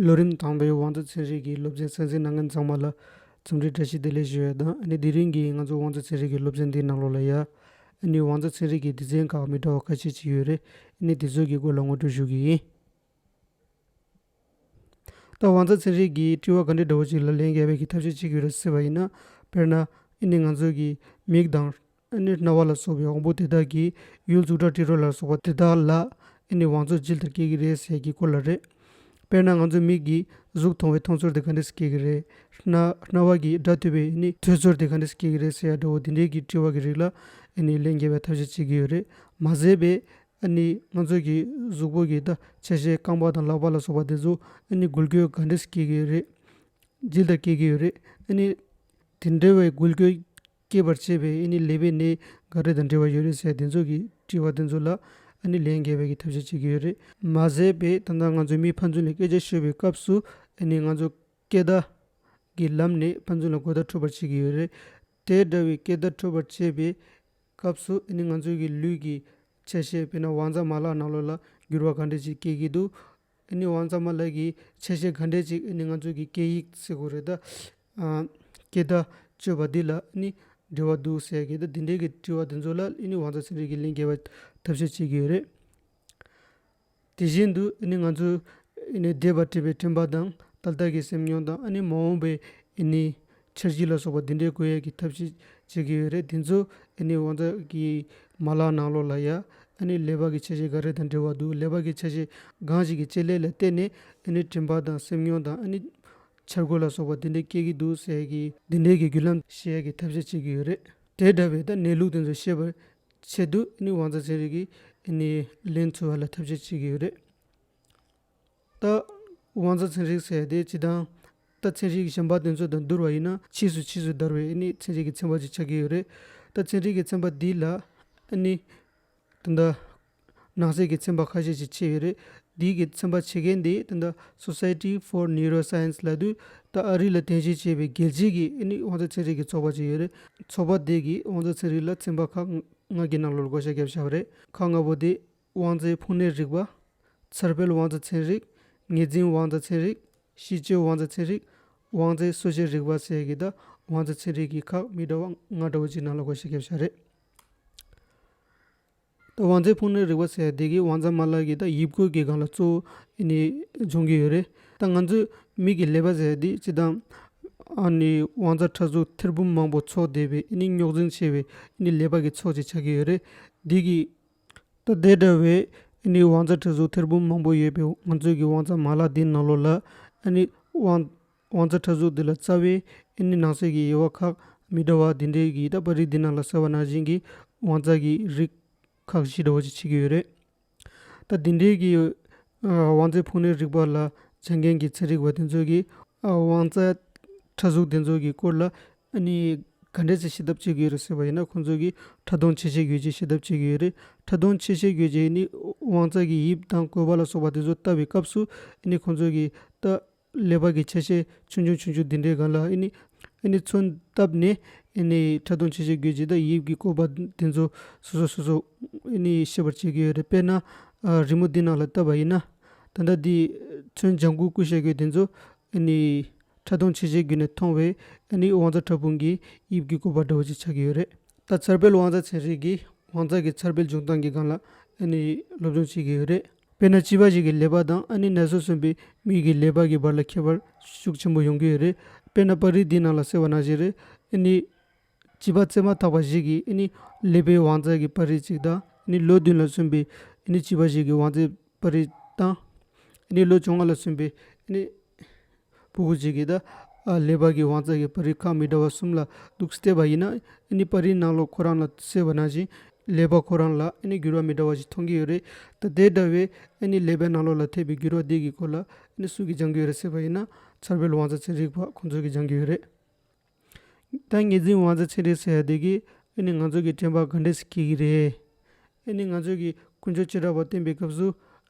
ལོ་རིམ་དང་པོའི་བང་མཛོད་ཚན་རིག་གི་སློབ་ཚན་གསན་གཟིགས་གནང་མཁན་ཚང་མ་ལ་རྩོམ་འབྲི་བཀྲ་ཤིས་བདེ་ལེགས་ཞུ་བའི་དང་ཨ་ནི་དེ་རིང་གི་ང་ཚོའི་བང་མཛོད་ཚན་རིག་གི་སློབ་ཚན་འདི་ནང་ལོགས་ལ་ཡ་ཨ་ནི་བང་མཛོད་ཚན་རིག་གི་སྡེ་ཚན་ཁག་མི་འདྲ་བ་ཁ་ཤས་ཅིག་ཡོད་རེད་ཨ་ནི་དེ་ཚོའི་གི་སྐོར་ལ་ངོ་སྤྲོད་ཞུ་གི་ཡིན། ད་བང་མཛོད་ཚན་རིག་གི་དྲི་བ་ག་འདྲི་འདྲ་བོ་ཅིག་ལ་ལན་རྒྱག་པའི་གི་ཐབས་ཤེས་ཅིག་ཡོད་རེད་སེ་བ་ཡིན་ན་དཔེར་ན་ཨ་ནི་ང་ཚོའི་གི་མིག་དང། ཨེ་ནི་རྣ་བ་ལ་སོགས་པའི་དབང་པོ་དེ་དག་གིས་ཡུལ་གཟུགས་སྒྲ་དྲི་རོ་ལ་སོགས་པ་དེ་དག་ལ། ཨེ་ནི་བང་མཛོད་ཅི་ལྟར་སྐྱེ་གི་རེད་ཟེར་གྱི་སྐོར་ལ་རེད། དཔེར་ན་ང་ཚོའི་མིག་གིས་གཟུགས་མཐོང་བས་མཐོང་ཚོར་དེ་ག་འདྲས་སུ་སྐྱེ་གི་རེད། རྣ་བ་གིས་སྒྲ་ཐོས་པས་ཨེ་ནི་ཐོས་ཚོར་དེ་ག་འདྲས་སུ་སྐྱེ་གི་རེད་ཟེར་ཡ་འདྲ་བོ་དེ་འདྲས་ཀྱི་དྲི་བ་གི་རིགས་ལ་ཨེ་ནི་ལན་རྒྱས་པའི་ཐབས་ཤེས་བྱེད་ཀྱི་ཡོད་རེད་མ་ཟད་པས། ཨེ་ནི་ང་ཚོས་ཀྱི་གཟུགས་པོ་གི་ད་ཆ་ཞེས་རྐང་པ་དང་ལག་པ་ལ་སོགས་པ་དེ་ཚོ་ཨེ་ནི་འགུལ་སྐྱོད་ག་འདྲས་སུ་སྐྱེ་གི་རེད། ཇི་ལྟར་སྐྱེ་གི་ཡོད་རེད་ཨེ་ནི། དེ་འདྲ་བའི་འགུལ་སྐྱོད་སྐྱེད་པར་བྱེད་པའི་ཨེ་ནི་ལེ་བའི་ནད་འགའ་རེ་དང་འབྲེལ་བ་ཡོད་རེད་ཟེར་དེ་ཚོ་གི་དྲི་བ་དེ་ཚོ་ལ་ཨེ་ནི་ལེན་རྒྱལ་བས་ཀྱི་ཐབས་ཤེས་བྱེད་ཀྱི་ཡོད་རེད་མ་ཟད་པའི་ད་ལྟ་ང་ཚོའི་མིའི་ཕན་ཚུན་ལ་སྐད་ཆ་ཤོད་པའི་སྐབས་སུ་ཨེ་ནི་ང་ཚོ་སྐད་བརྡ་གི་ལམ་ནས་ཕན་ཚུན་ལ་དགོད་བརྡ་འཕྲོད་པར་བྱེད་ཀྱི་ཡོད་རེད་དེ་འདྲ་བའི་སྐད་བརྡ་འཕྲོད་པར་བྱེད་པའི་སྐབས་སུ་ཨེ་ནི་ང་ཚོའི་གི་ལུས་ཀྱི་ཆ་ཤས་དཔེར་ན་བང་རྩ་མ་ལག་ནག་ལོ་ལ་འགྱུར་བ་ག་འདྲ་ཅིག་སྐྱེད་ཀྱི་འདུག་འདི་ནི་དབང་རྩ་མ་ལགས་ཀྱི་ཆ་ཤས་ག་འདྲས་ཅིག་ནི་ང་ཚོས་ཀྱི་སྐད་ཡིག་ཟེར་དགོས་རེད་ད། སྐད་བརྡ་སྤྱོད་པ་འདི་ལ་ནི་འབྲེལ་བ་འདུག་ཟེར་གི་ད་འདི་འདྲས་ཀྱི་དྲི་བ་འདི་ཚོ་ལ་ནི་དབང་རྩ་ཚན་རིག་གི་གླིང་རྒྱལ་བས་ཐབས་ཤེས་བྱེད་ཀྱི་ཡོད་རེད། དེ་བཞིན་དུ་ནི་ང་ཚོས་ནི་བདེ་བར་བཀྲིས་པའི་དྲན་པ་དང་ཏག་ཏག་གི་སེམས་མྱོང་དང་ནི་མ་འོངས་པའི་ནི་འཆར་གཞི་ལ་སོགས་པ་འདི་འདྲའི་བཀོད་ཡས་ཀྱི་ཐབས་ཤེས་བྱེད་ཀྱི་ཡོད་རེད་དེ་ཚོ་ཨེ་ནི་དབང་རྩ་གི་མ་ལག་ནང་ལོག་ལ་ཡ་ཨེ་ནི་ལས་བབ་ཀྱི་ཆ་ཤས་འགའ་རེ་དང་འབྲེལ་བ་འདུག་ལས་བབ་ཀྱི་ཆ་ཤས་གང་ཞིག་གི་དཔྱད་ལས་ལ་བལྟས་ནས་ཨེ་ནི་དྲན་པ་དང་སེམས་མྱོང་དང་ཨེ་ནི་འཆར་འགོད་ལ་སོགས་པ་འདི་འདྲ་སྐྱེ་གི་འདུག་ཟེར་གི། འདི་འདྲའི་གི་རྒྱུ་ལམ་ཤེས་ཡས་ཀྱི་ཐབས་ཤེས་བྱེད་ཀྱི་ཡོད་རེད་དེ་འདྲ་བའི་ད་གནས་ལུགས་དེ་ཚོ་ཤེས་པར་ཆེད་དུ་ཨེ་ནི་དབང་རྩ་ཚན་རིག་གིས་ཨེ་ནི་ལན་ཚོལ་བ་ལ་ཐབས་ཤེས་བྱེད་ཀྱི་ཡོད་རེད། ལྟ། དབང་རྩ་ཚན་རིག་ཟད་དེ་ཇི་ལྟར་ལྟ། ཚན་རིག་གི་ཞེན་པ་དོན་ཚོད་དང་བསྡུར་བ་ཡིན་ན་ཕྱིས་སུ་ཕྱིས་སུ་དར་བའི་ནི་ཚན་རིག་གི་ཚན་པ་ཞིག་ཆགས་ཀྱི་ཡོད་རེད། ལྟ་ཚན་རིག་གི་ཚན་པ་འདི་ལ་ནི། དེ་འདྲ། ནང་གསེས་ཀྱི་ཚན་པ་ཁ་ཤས་ཤིག་ཕྱེས་ཡོད་རེད། འདིའི་གི་ཚན་པ་ཕྱེ་མཁན་དེ་དེ་འདྲ Society for Neuroscience ལ་དུས་ད་ཨ་རི་ལ་རྟེན་གཞི་བྱས་པའི་རྒྱལ་སྤྱིའི་གི་ནི་དབང་རྩ་ཚན་རིག་གི་ཚོགས་པ་ཞིག་ཡོད་རེད། ཚོགས་པ་དེས་གི་དབང་རྩ་ཚན་རིག་ལ་ཚན་པ་ཁག་ལྔ་གི་ནང་ལོ་བསྐོ་བཞག་བརྒྱབ་བཞག་རེད། ཁག་ལྔ་པོ་དེ། དབང་རྫས་ཕུང་ནད་རིག་པ། ཚེར་བལ་དབང་རྫས་ཚན་རིག། ངེས་འཛིན་དབང་རྫས་ཚན་རིག། ཤི་བཅོས་དབང་རྫས་ཚན་རིག། དབང་རྫས་གསོ་བྱེད་རིག་པ་སེ་གི་དང་དབང་རྫས་ཚན་རིག་གི་ཁག་མི་འདྲ་བ་ལྔ་འདྲ་བོ་གཅིག་ནང་ལ་གོ་ཞེས་ཁྱབ་བྱ་རེད། དང་དབང་རྫས་ཕུང་ནད་རིག་པ་སེ་དེ་གའི་དབང་རྫས་མ་ལག་གི་དང་དབྱིབས་བཀོད་ཀྱི་སྒང་ལ་གཙོ་བོ་ནི་སྦྱོང་གི་ཡོད་རེད། ད་ང་ཚོས་མིག་གི་ལེ་བ་སེ་འདི་སྤྱི་དང། དབང་རྫས་ཕྲ་གཟུགས་ཐེར་འབུམ་མང་པོ་ཚོགས་བསྡེབས་པའི་རྙོག་འཛིང་ཆེ་བའི་ལེ་བ་གི་ཚོགས་ཅིག་ཆགས་ཀྱི་ཡོད་རེད། འདི་གི། ད་ལྟའི་དྲ་བའི་ཨེ་ནི་དབང་རྩ་ཁྲི་ཟུར་ཐེར་འབུམ་མང་པོ་ཡོད་པའི་ང་ཚོས་ཀྱི་དབང་རྩ་མ་ལག་འདིའི་ནང་ལོགས་ལ་ཨེ་ནི་དབང་དབང་རྩ་ཁྲི་ཟུར་འདི་ལ་རྩ་བའི་ཨེ་ནི་ནང་གསེས་ཀྱི་དབྱེ་བ་ཁག་མི་འདྲ་བ་འདི་འདྲའི་ཡི་དྭགས་པ་རིགས་འདི་རྣམས་ལ་ཟེར་བ་ན་གཞན་གྱི་དབང་རྩ་གྱི་རིགས་ཁག་བཞི་འདྲ་བ་ཅིག་ཆིག་གི་ཡོད་རེད། ད་འདི་འདྲའི་གི། བང་རྩལ་ཕུགས་ནུས་རིག་པ་ལ་སྦྱངས་མཁན་གྱི་ཚན་རིག་པ་དེ་ཚོ་གིས་བང་རྩལ་ཕྲ་གཟུགས་དེ་ཚོ་གི་སྐོར་ལ་གནས་ག་འདྲས་ཤིག་ཤེས་ཐབས་བྱེད་དགོས་རེད་ཟེར་བ་ཡིན་ན་ཁོང་ཚོ་གིས་ཕྲ་མཐོང་ཆེ་ཤེས་དགོས་ཀྱི་ཤེས་ཐབས་བྱེད་ཀྱི་ཡོད་རེད་ཕྲ་མཐོང་ཆེ་ཤེས་དགོས་ཀྱི་ནི་བང་རྩལ་གྱི་དབྱིབས་དང་གོ་བ་ལ་སོགས་པ་དེ་ཚོ་ལྟ་བའི་སྐབས་སུ་ནི་ཁོང་ཚོ་གིས་ལྟ་ལས་བར་གྱི་ཆ་ཤས་ཆུང་ཆུང་ཆུང་ཆུང་འདི་འདྲའི་གང་ལ་ཨེ་ནི། ཨེ་ནི་མཚོན་བཏབ་ནས་ཨེ་ནི་ཕྲ་ལྟུང་ཆེ་ཆེ་དགོས་ཀྱི་ད་ཡིབ་ཀྱི་བཀོད་པ་དེ་ཚོ་སོ་སོ་སོ་སོ་ཨེ་ནི་ཤེས་པར་བྱེད་ཀྱི་ཡོད་རེད་དཔེར་ན། རི་མོ་འདི་ནང་ལ་བཏབ་པ་ཡིན་ན། ད་ལྟ་འདི་མཚོན་ལྗང་གུ་སྐུ་ཞེ་དགོས་དེ་ཚོ་ཨེ་ནི། ཕྲ་ལྟུང་ཆེ་ཆེ་བརྒྱུད་ནས་མཐོང་བས་ཨེ་ནི་དབང་རྩ་ཕྲ་ཕུང་གི་དབྱིབས་ཀྱི་བཀོད་པ་འདྲ་བོ་ཅིག་ཆགས་ཀྱི་ཡོད་རེད། ད་ཚར་སྤེལ་དབང་རྩ་ཚན་རིག་གིས་དབང་རྩ་གི་ཚར་སྤེལ་འབྱུང་སྟངས་ཀྱི་སྒང་ལ་ཨེ་ནི་སློབ་སྦྱོང་བྱེད་ཀྱི་ཡོད་རེད། དཔེར་ན་བྱིས་པ་ཞིག་གི་ལས་པ་དང་ཨ་ནེ་ནད་སོས་སོན་པའི་མིག་གི་ལས་པ་གི་བར་ལ་ཁྱད་པར་ཤུགས་ཆེན་པོ་ཡོང་གི་ཡོད་རེད། དཔེར་ན་པར་རིས་འདིའི་ནང་ལ་གསལ་བ་ན་བཞིན་རེ་ཨེ་ནི། བྱིས་པ་བཙས་མ་ཐག་པ་ཞིག་གིས་ཨེ་ནི་ལས་པའི་བང་རྩལ་གྱི་པར་རིས་གཅིག་དང་ཨེ་ནི་ལོ་བདུན་ལ་སོན་པའི་ཨེ་ནི་བྱིས་པ་ཞིག་གི་བང་རྩལ་པར་རིས་དང། ཨེ་ནི་ལོ་བཅོ་ལྔ་ལ་སོན་པའི་ཨེ་ནི། པུ་གུ་གཅིག་གིས་ད་ལེ་བར་གྱི་བང་རྩལ་གྱི་པར་རིས་ཁག་མི་འདྲ་བ་གསུམ་ལ་འདུག་བལྟས་པ་ཡིན་ན་ནི་པར་རིས་ནང་ལོགས་ཁོ་རང་ལ་གསལ་བ་ནང་བཞིན་ལེ་བར་ཁོ་རང་ལ་ནི་འགྱུར་བ་མི་འདྲ་བ་ཞིག་མཐོང་གི་ཡོད་རེད་ད་དེ་འདྲ་བའི་ནི་ལེ་བར་ནང་ལོགས་ལ་ཐེབས་པའི་འགྱུར་བ་དེ་གི་སྐོར་ལ་ནི་སུ་གིས་སྦྱང་གི་ཡོད་རེད་ཟེར་བ་ཡིན་ན་ཚར་བོད་ལུགས་བང་རྩལ་ཚན་རིག་པ་ཁོང་ཚོ་གིས་སྦྱང་གི་ཡོད་རེད། ད་ངེད་འཛིན་དབང་ཚད་ཆེ་རེད་ཟེར་བསྡད་གི་ཨེ་ནི་ང་ཚོ་གི་དྲན་པ་ག་འདྲས་སུ་སྐྱེ་གི་རེད། ཨེ་ནི་ང་ཚོས་གི་ཀུན་སྤྱོད་ཅི་འདྲ་བ་བསྟེན་པའི་སྐབས་སུ་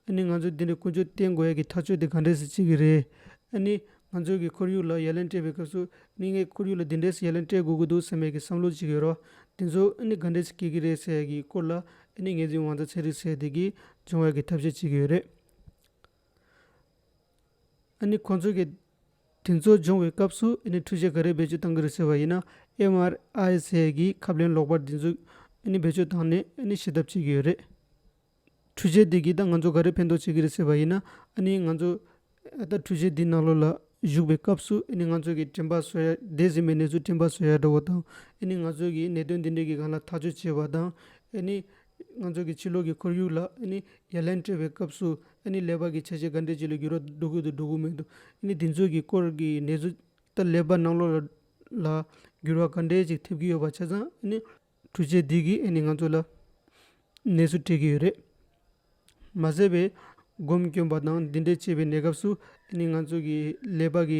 ཨེ་ནི་ང་ཚོས་དེ་འདྲའི་ཀུན་སྤྱོད་བསྟེན་དགོས་ཡ་གི་ཐག་གཅོད་དེ་ག་འདྲས་སུ་བྱེད་གི་རེད། ཨེ་ནི་ང་ཚོས་གི་ཁོར་ཡུག་ལ་ཡ་ལན་སྤྲད་པའི་སྐབས་སུ་ཨེ་ནི་ངས་ཁོར་ཡུག་ལ་འདི་འདྲས་སུ་ཡ་ལན་སྤྲད་དགོས་ཀྱི་འདུག་ཟེར་མེད་གི་བསམ་བློ་ཅིག་ཡོད་རོགས། དེ་ཚོ་ཨེ་ནི་ག་འདྲས་སུ་སྐྱེ་གི་རེད་ཟེར་ཡ་གི་སྐོར་ལ་ཨེ་ནི་ངེད་འཛིན་དབང་ཚད་ཆེ་རེད་ཟེར་བསྡད་གི་སྦྱོང་བ་ཡ་གི་ཐབས་ཤེས་བྱེད་གི་ཡོད་རེད། ཨེ་ནི་ཁོ་ཚོས་གི་དེ་ཚོ་སྦྱོང་བའི་སྐབས་སུ་ཨེ་ནི་འཕྲུལ་ཆས་ག་རེ་བེད་སྤྱོད་གཏང་གི་རེད་ཟེར་བ་ཡིན་ན MRIS གི་ཁབ་ལེན་ལོག་པར་འདི་ཚོ་ཨེ་ནི་བེད་སྤྱོད་བཏང་ནས་ཨེ་ནི་ཤི་ཐབས་བྱེད་ཀྱི་ཡོད་རེད། འཕྲུལ་ཆས་དེ་གིས་ད་ང་ཚོ་ག་རེ་ཕན་ཐོག་བྱེད་ཀྱི་རེད་ཟེར་བ་ཡིན་ན་ཨེ་ནི་ང་ཚོ་ཨ་ད་འཕྲུལ་ཆས་འདི་ནགས་ལོ་ལ་བཞུགས་པའི་སྐབས་སུ་ཨེ་ནི་ང་ཚོ་གི་དྲན་པ་བཟོ་ཡ་འདས་ཟིན་པའི་གནས་ཚུལ་དྲན་པ་བཟོ་ཡ་འདྲ་བོ་དང་ཨེ་ནི་ང་ཚོ་གི་ནད་དོན་འདི་འདྲ་གི་གང་ལ་ཐག་གཅོད་བྱེད་པ་དང་ཨེ་ནི་ང་ཚོ་གི་ཕྱི་ལོག་གི་ཁོར་ཡུག་ལ་ཡ་ལན་སྤྲོད་པའི་སྐབས་སུ་ཀླད་པ་གི་བྱ་བྱེད་འགའ་འདྲེ་བྱེད་ལ་འགྱུར་བ་འགྲོ་ཁུལ་དུ་འགྲོ་གི་མེད་དོ། དེ་ཚོའི་གི་སྐོར་གྱི་ནད་གཟུགས་ལྟར་ཀླད་པ་ནང་ལོགས་ལ་འགྱུར་བ་ག་འདྲེ་ཞིག་ཐེབས་ཀྱི་ཡོད་པ་ཆ་ཚང་འཕྲུལ་ཆས་འདི་གིས་ནི་ང་ཚོ་ལ་ནད་གཟུགས་སྤྲད་ཀྱི་ཡོད་རེད། མ་ཟད་པའི་སྒོམ་སྐྱོན་པ་དང་འདི་འདྲེ་བྱེད་པའི་གནས་སྐབས་སུ་ནི་ང་ཚོ་གི་ཀླད་པ་གི་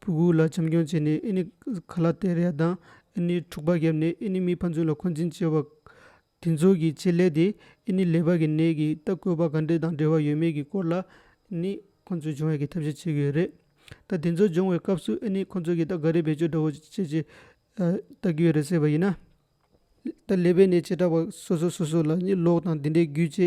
བུ་གུ་ལ་བྱམས་སྐྱོང་བྱས་ནས་ཨི་ནི་གྷ་ལ་ཏེ་ར་ཡ་དང་ཨི་ནི་འཁྲུག་པ་བརྒྱབ་ནས་ཨི་ནི་མི་ཕན་ཚུན་ལ་འཁོན་འཛིན་བྱས་པ། དེ་ཚོ་གི་ཆེད་ལས་དེ་ཨི་ནི་ལེ་བར་གི་ནད་ཀྱི་ལྟ་སྐུལ་བ་ག་འདྲེ་དང་འབྲེལ་བ་ཡོད་མེད་ཀྱི་སྐོར་ལ་ཨི་ནི་ཁོ་ཚོས་སྦྱོང་བའི་གི་ཐབས་ཤེས་བྱེད་གི་ཡོད་རེད། ད་དེ་ཚོ་སྦྱོང་བའི་སྐབས་སུ་ཨི་ནི་ཁོ་ཚོ་གི་ད་ག་རེ་བེད་སྤྱོད་འདྲ་བོ་བྱེད་ཅེས་བལྟ་གི་ཡོད་རེད་ཟེར་བ་ཡིན་ན། ད་ལེ་བའི་ནས་བྱེ་བྲག་པ་སོ་སོ་སོ་སོ་ལ་གཉིད་ལོག་དང་དེ་འདྲའི་རྒྱུ་ཅི་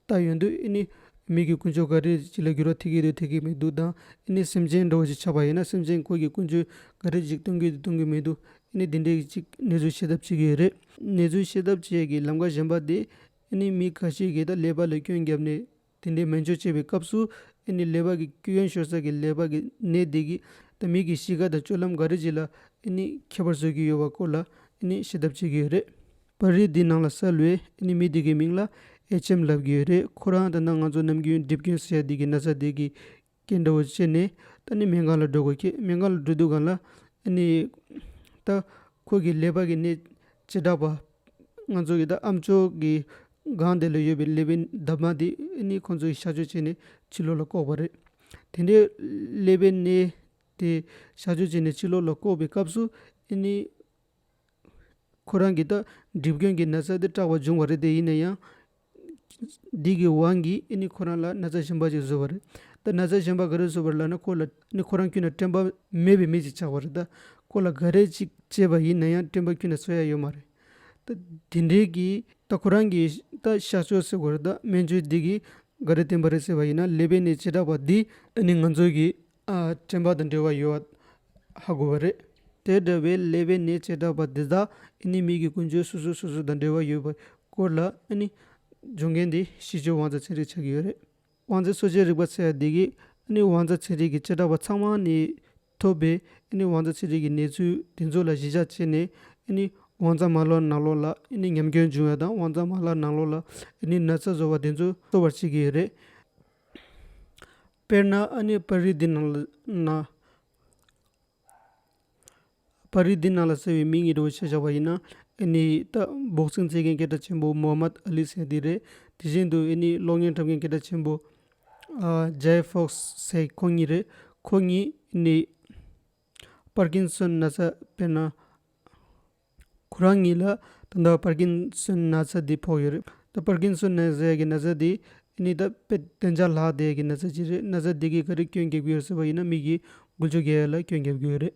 ལྟར་ཡོད་འདུག་ཨེ་ནི། མིག་གི་ཀུན་སྤྱོད་ག་རེ་ཅིག་ལ་འགྱུར་བ་ཐེབས་ཀྱི་འདུག་ཐེབས་ཀྱི་མི་འདུག་དང་ཨེ་ནི་སེམས་ཅན་འགྲོ་བ་ཞིག་ཆགས་པ་ཡིན་ན་སེམས་ཅན་ཀུན་གྱི་ཀུན་སྤྱོད་ག་རེ་ཅིག་སྟོན་གྱི་འདུག་སྟོན་གྱི་མི་འདུག་ཨེ་ནི་དེ་འདྲའི་ཅིག་ནེ་ཙོའི་ཤེས་ཐབས་བྱེད་ཀྱི་ཡོད་རེད། ནེ་ཙོའི་ཤེས་ཐབས་བྱེད་ཀྱི་ལམ་ཁ་གཞན་པ་དེ་ཨེ་ནི་མི་ཁ་ཤས་ཀྱིས་ད་ལེ་བ་ལ་སྐྱོན་བརྒྱབ་ནས་དེ་འདྲའི་སྨན་བཅོས་བྱེད་པའི་སྐབས་སུ་ཨེ་ནི་ལེ་བར་གྱི་སྐྱོ་ཡོན་ཤོར་ས་གི་ལེ་བར་གྱི་ནད་འདི་གིས་ད་མིག་གི་གཤིས་ཀ་དང་སྤྱོད་ལམ་འགའ་རེ་ཅིག་ལ་ཨེ་ནི་ཁྱད་པར་བཟོས་ཀྱི་ཡོད་པ་སྐོར་ལ་ཨེ་ནི་ཤེས་ཐབས་བྱེད་ཀྱི་ཡོད་རེད། པར་རིས་འདིའི་ནང་ལ་གསལ་བའི་ཨེ་ནི་མི་དེ་གའི་མིང་ལ་ཨེ་ཆེམ་ལབ་ཀྱི་ཡོད་རེད་ཁོ་རང་ད་ནངས་ང་ཚོ་ནམ་རྒྱུན་སྒྲིབ་སྐྱོན་ཟེར་ཡ་འདི་གི་ན་ཚ་དེ་གིས་ཀྱེ་འདྲ་བོ་ཅི་ནས་ད་ནི་མན་ངག་ལ་འགྲོ་དགོས་ཀྱི་མན་ངག་ལ་འགྲོ་དུས་གང་ལ་ཨེ་ནི། ད་ཁོ་གིས་ཀླད་པ་གི་ནད་ཇི་འདྲ་བ། ང་ཚོ་གི་ད་ཨ་མཆོག་གི་སྒང་དེ་ལ་ཡོད་པའི་ཀླད་པའི་འདབ་མ་དེ་ཨེ་ནི་ཁོ་ཚོ་གི་གཤགས་བཅོས་བྱས་ནས་ཕྱི་ལོག་ལ་བཀོག་པ་རེད། དེ་འདྲའི་ཀླད་པའི་ནད་དེ་གཤགས་བཅོས་བྱས་ནས་ཕྱི་ལོག་ལ་བཀོག་པའི་སྐབས་སུ་ཨེ་ནི། ཁོ་རང་གིས་ད་སྒྲིབ་སྐྱོན་གྱི་ན་ཚ་དེ་སྐྲག་པ་འབྱུང་བ་རེད་དེ་ཡིན་ན་ཡང། སྡིག་གི་དབང་གིས་ཨི་ནི་ཁོ་རང་ལ་ན་ཚ་ཞིམ་པ་ཅིག་བཟོས་པ་རེད་ད། ན་ཚ་ཞིམ་པ་ག་རེ་བཟོས་པར་ལབ་ན་ཁོ་ལ། ཨི་ནི་ཁོ་རང་ཁྱོད་ན་སྤྲིན་པ་མེད་པའི་མི་ཅིག་ཆགས་པ་རེད་ད། ཁོ་ལ་ག་རེ་ཅིག་བྱས་པ་ཡིན་ན་ཡང་སྤྲིན་པ་ཁྱོད་ན་བཟོ་ཡ་ཡོད་མ་རེད་ད། དེ་འདྲའི་གི་ད་ཁོ་རང་གིས་ད་ཤག་ཆོས་ཟེར་དགོས་རེད་ད་སྨན་བཅོས་སྡིག་གིས་ག་རེ་བསྟན་པ་རེད་ཟེར་བ་ཡིན་ན་ལེ་བའི་ནད་བྱེ་བྲག་པ་འདིས་ཨི་ནི་ང་ཚོའི་གི། དྲན་པ་དང་འབྲེལ་བ་ཡོད་ཧ་དགོས་པ་རེད། དེ་འདྲ་བའི་ཀླད་པའི་ནད་བྱེ་བྲག་པ་འདི་དག་ཨེ་ནི་མིག་གི་ཀུན་སྤྱོད་སོ་སོ་སོ་སོ་དང་འབྲེལ་བ་ཡོད་པའི་སྐོར་ལ་ཨེ་ནི་སྦྱོང་མཁན་དེ་གཤིས་སྤྱོད་དབང་རྩ་ཚན་རིག་ཆགས་ཀྱི་ཡོད་རེད། དབང་རྩའི་སོ་ཆའི་རིག་པ་ཚད་འདི་གས་ཨེ་ནི་དབང་རྩ་ཚན་རིག་གི་བྱེ་བྲག་པ་ཚང་མ་ནས་ཐོབ་པའི་ཨེ་ནི་དབང་རྩ་ཚན་རིག་གི་གནས་ཚུལ་དེ་ཚོ་ལ་གཞི་བཞག་བྱས་ནས་ཨེ་ནི་དབང་རྩ་མ་ལོག་ནག་ལོག་ལ་ཨེ་ནི་ཉམས་སྐྱོན་འབྱུང་བ་དང་དབང་རྩ་མ་ལག་ནག་ལོག་ལ་ཨེ་ནི་ན་ཚ་བཟོ་བ་དེ་ཚོ་གསོ་བར་བྱེད་ཀྱི་ཡོད་རེད། དཔེར་ན་ཨ་ནེ་པར་རིས་འདི་ནང་ལ་ན། པར་རིས་འདི་ནང་ལ་ཟེར་བའི་མིང་ཡིག་འབྲི་བ་ཞེས་བྱ་བ་ཡིན་ན། ཨེ་ནེའི་རྟ་འབོག་ཚིག་མཛད་མཁན་སྐད་གྲགས་ཆེན་པོ་མོ་ཧ་མད་ཨ་ལི་སེ་དེ་རེད། དེ་བཞིན་དུ་ཨེ་ནེའི་གློག་བརྙན་འཁྲབ་མཁན་སྐད་གྲགས་ཆེན་པོ། ཇའེ་ཧྥོག་སེ་ཁོང་གཉིས་རེད། ཁོ་གཉིས་ཨེ་ནེའི། པར་གིན་སོན་ན་ཚ་དཔེར་ན། ཁོ་རང་ཉིད་ལ་ད་ལྟ་པར་གིན་སོན་ན་ཚ་འདི་ཕོག་ཡོད་རེད། ད་པར་གིན་སོན་ན་ཟས་ཀྱི་ན་ཚ་འདི་ནི་ད་དཔེ་བདེ་འཇགས་ལྷག་བསྡད་ཀྱི་ན་ཚ་ཅིག་རེད་ན་ཚ་འདི་གིས་ག་རེ་སྐྱོན་བརྒྱབ་གི་ཡོད་ཟེར་བ་ཡིན་ན་མིག་གིས་འགུལ་ཆུ་རྒལ་ལ་སྐྱོན་བརྒྱབ་གི་ཡོད་རེད།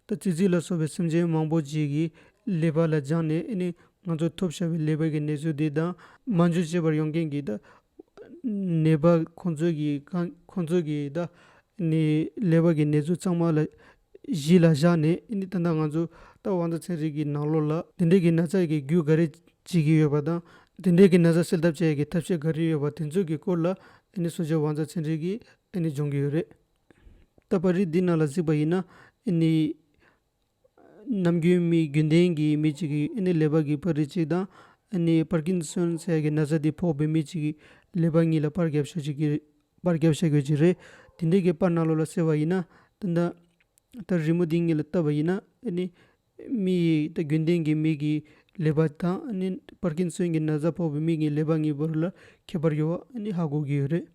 ད་ཙི་ཙི་ལ་སོགས་པའི་སེམས་ཅན་མང་པོ་ཅིག་གིས་ཀླད་པ་ལ་སྦྱངས་ནས་ཨེ་ནི་ང་ཚོ་ཐོབ་བཞག་པའི་ཀླད་པའི་གི་ནད་ཚུལ་འདི་དང། སྨན་བཅོས་བྱེད་པར་ཡོང་མཁན་གྱི་ད་ནད་པ་ཁོང་ཚོས་ཀྱི་ཁང་ཁོང་ཚོས་ཀྱི་ད་ནི་ལེ་བར་གྱི་ནད་ཚོད་གཙང་མ་ལ་གཞི་ལ་བཞག་ནས་ཨིནྡི་ཏན་ད་ང་ཚོ་ད་དབང་ཚ་ཚའི་རིགས་ཀྱི་ནང་ལོགས་ལ་དེ་འདྲས་ཀྱི་ན་ཚ་ཡི་རྒྱུ་ག་རེ་བྱེད་ཀྱི་ཡོད་པ་དང་དེ་འདྲས་ཀྱི་ན་ཚ་སེལ་ཐབས་བྱ་ཡི་གི་ཐབས་ཤེས་ག་རེ་ཡོད་པ་དེ་ཚོད་ཀྱི་སྐོར་ལ་ཨིནྡི་སོ་ཅའི་དབང་ཚ་ཚའི་རིགས་ཀྱི་ཨིནྡི་སྦྱོང་གི་ཡོད་རེད། ད་པར་རིགས་འདི་རྣམས་ལ་གཟིགས་པ་ཡིན་ན་ཨིནྡི། ནམ་རྒྱུན་མི་རྒྱུན་ལྡན་གྱི་མི་གཅིག་གིས་ཨེ་ནི་ལེ་བར་གྱི་པར་རིས་གཅིག་དང་ཨེ་ནི་པར་ཀིན་སོན་ཚད་ཀྱི་ན་ཚ་དེ་ཕོག་པའི་མི་གཅིག་གིས་ལེ་བར་གཉིས་ལ་པར་རྒྱབ་བཤད་ཀྱི་པར་རྒྱབ་བཤད་དགོས་ཀྱི་རེད། དེ་འདྲའི་གི་པར་ནག་ལོ་ལ་སེར་བ་ཡིན་ན། ད་ལྟ་རི་མོ་འདི་ངེད་ལ་བཏབ་པ་ཡིན་ན་ཨེ་ནི། མི་ཡི་ད་རྒྱུན་ལྡན་གྱི་མི་གིས་ལེ་བར་དང་ཨེ་ནི་པར་ཀིན་སོན་གྱི་ན་ཚ་ཕོག་པའི་མི་གཉིས་ལེ་བར་གཉིས་བར་ལ་ཁྱད་པར་ཡོད་བ་ཨེ་ནི་ཧ་གོ་གི་ཡོད་རེད།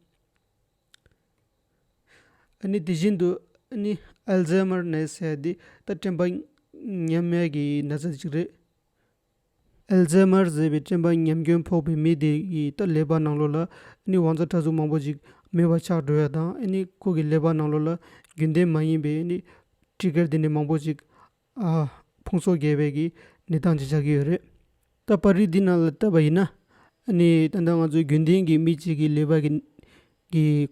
ཨ་ནི་དེ་བཞིན་དུ་ཨ་ནི་ཨལ་ཛེ་མར་ནད་ཟེར་བ་འདི་ད་དྲན་པ་ཉམས་མེད་ཀྱི་ན་ཚ་ཞིག་རེད། ཨལ་ཛེ་མར་ཟེར་བའི་དྲན་པ་ཉམས་སྐྱོན་ཕོག་པའི་མི་དེ་ཡིས་ད་ཀླད་པ་ནང་ལོགས་ལ་ཨ་ནི་བང་རྩ་ཕྲ་གཟུགས་མང་པོ་ཞིག་མེ་བ་ཆགས་འགྲོ་བ་དང་ཨ་ནི་ཁོ་གི་ཀླད་པ་ནང་ལོགས་ལ་རྒྱུན་ལྡན་མ་ཡིན་པའི་ཨ་ནི Trigger དེ་འདྲ་མང་པོ་ཞིག་ཕུང་སོགས་རྒྱས་པའི་གནས་སྟངས་ཅི་ཆགས་ཀྱི་ཡོད་རེད། ད་པར་རིགས་འདི་རྣམས་ལ་བལྟས་པ་ཡིན་ན། ད་ལྟ་ང་ཚོའི་རྒྱུན་ལྡན་གྱི་མི་གཅིག་གི་ལུས་པ་ཀྱི་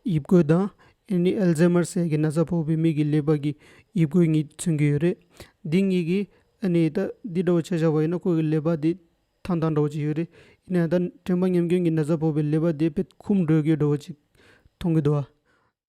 དབྱིབས་བཀོད་དང། ཨེལ་ཛེ་མར་སྲས་ཀྱི་ན་ཚ་ཕོག་པའི་མི་གི་ལུས་པ་ཀྱི་དབྱིབས་བཀོད་གཉིས་མཚོན་གྱི་ཡོད་རེད། འདི་གཉིས་ཀྱིས་འདི་འདྲ་བོ་བྱས་བཞག་པ་ཡིན་ན་ཁོ་གི་ལུས་པ་དེ་ཐང་ཐང་འདྲ་བོ་ཅིག་ཡོད་རེད། ཡིན་ན་ཡང་ད་དྲན་པ་ཉམས་སྐྱོན་གྱི་ན་ཚ་ཕོག་པའི་ལུས་པ་དེ་དཔེ་ཁུམ་འགྲོས་ཀྱི་འདྲ་བོ་ཅིག་མཐོང་གི་འདུག་ཨ།